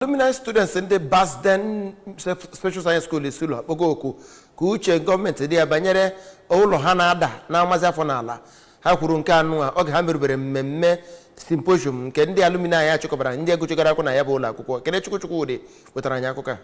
alumni students ndị Basden Special Science School Isulo akpọgo oku ka uche gọọmenti dị ya banyere ụlọ ha na-ada na-amazi afọ n'ala ha kwuru nke anụwa oge ha merubere mmemme symposium nke ndị alumni nya chịkọbara ndị a gụchigara akwụkwọ na ya bụ ụlọ akwụkwọ Kenechukwu Chukwodi wetara anyị akụkọ a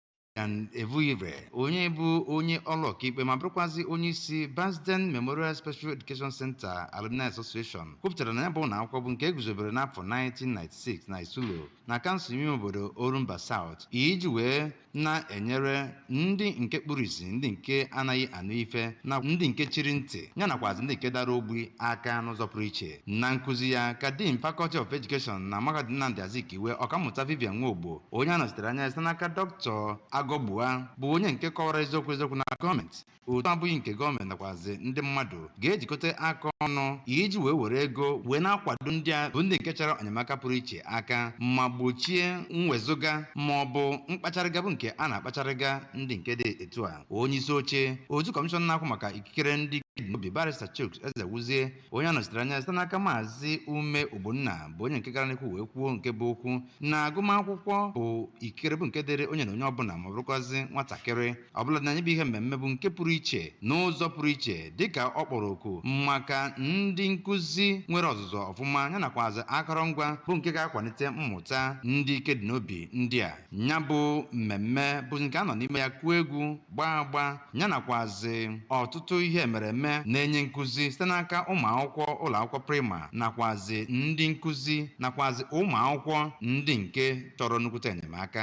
Christian Evuire onye bụ onye ọlụ ọkaikpe ma bụrụkwazị onye isi Basden Memorial Special Education Center Alumni Association kwupụtara na ya bụ ụlọ akwụkwọ bụ nke e guzobere n'afọ 1996 na Isulo na kansụl ime obodo Orumba South iji wee na-enyere ndị nke kpuru isi ndị nke anaghị anụ ife na ndị nke chiri ntị ya nakwazi ndị nke dara ogbi aka n'ụzọ pụrụ iche Na nkuzi ya ka Dean Faculty of Education na Mahadum Nnamdi Azikiwe, Ọkammụta Vivian Nwogbo, onye a nọchitere anya site n'aka Dọkịta Agọgbua, bụ onye nke kọwara eziokwu eziokwu na gọọmenti otu abụghị nke gọọmenti nakwazị ndị mmadụ ga-ejikọta aka ọnụ iji wee were ego wee na-akwado ndị a bụ ndị nke chọrọ enyemaka pụrụ iche aka ma gbochie mwezụga ma ọ bụ mkpacharịga bụ nke a na-akpacharịga ndị nke dị etu a onye isi oche otu kọmishọn na-ahụ maka ikikere ndị dị n'obi barịsta Chuks Ezewuzie onye a nọchitere anya site n'aka maazị Ume Ogbonna bụ onye nke gara n'ihu wee kwuo nke bụ okwu na agụmakwụkwọ bụ ikikere bụ nke dịrị onye na onye ọbụla ma ọ bụrụkwazi nwatakịrị ọbụla na nya bụ ihe mmemme bụ nke pụrụ iche n'ụzọ pụrụ iche dịka ọ kpọrọ oku maka ndị nkụzi nwere ọzụzụ ọfụma ya nakwazi akọrọngwa bụ nke ga-akwalite mmụta ndị ike dị n'obi ndị a ya bụ mmemme bụ nke a nọ n'ime ya kụọ egwu gbaa agba ya nakwazị ọtụtụ ihe emereme na-enye nkụzi site n'aka ụmụ akwụkwọ ụlọ akwụkwọ prịma nakwazị ndị nkụzi nakwazị ụmụ akwụkwọ ndị nke chọrọ nnukwute enyemaka